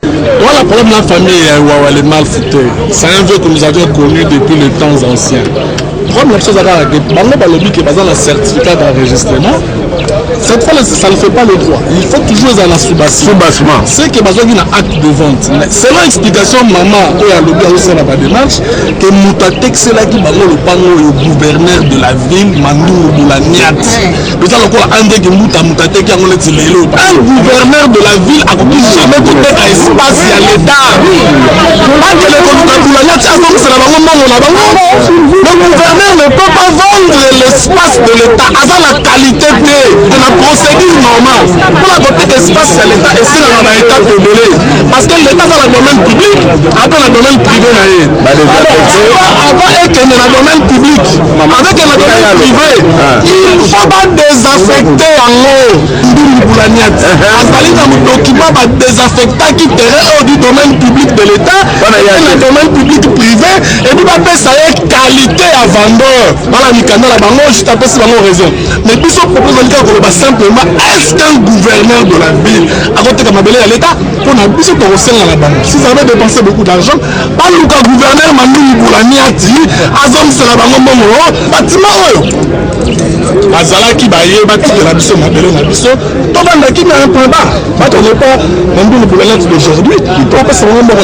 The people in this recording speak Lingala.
Voilà le problème de la famille ya Wawa les malfaités. C'est un vieux que nous avions connu depuis les temps anciens. Problème la chose à kaka que bango balobi que baza na certificat d'enregistrement. Cette fois là ça ne fait pas le droit. Il faut toujours ezala na soubassement. Soubassement. C'est que bazwaki na acte de vente. Mais selon explication maman oyo alobi azosala ba démarche que moto atekiselaki bango lopango oyo gouverneur de la ville Mandungu Boulaniat. eza lokola andeki mbuta moto ateki yango neti lelo un gouverneur de la ville akoki jamais koteka espace ya leta akele koluka dulalati azongisela bango mbongo na bango le gouverneur ne peut pas vendre l'espace de leta aza na qualité te de la procédure normale mpona koteka espace ya leta esilaka na etape ebele parce que leta aza na domaine public ata na domaine privé na ye avant ekende na domaine public avec la domaine privé il faut ba désaffecter yango ndumbi boulaniat azali na document ba désaffectaki terrain oyo du domaine public de l'état na domaine public privé ebi bapesa ye qualité ya vendeur bana mikanda na bango juste apesi bango raison mais biso propose olingi koloba simplement est ce qu'un gouverneur de la ville akoteka mabele ya l'état mpo na biso tokosenga na bango si ça avait dépensé beaucoup d'argent baluka gouverneur mandungu bulaniati azongisela bango mbongo batima oyo bazalaki baye batikela biso mabele na biso tobandaki na impamba bato nepa mandungu bulaniati d'aujourd'hui ipropesa bango mbongo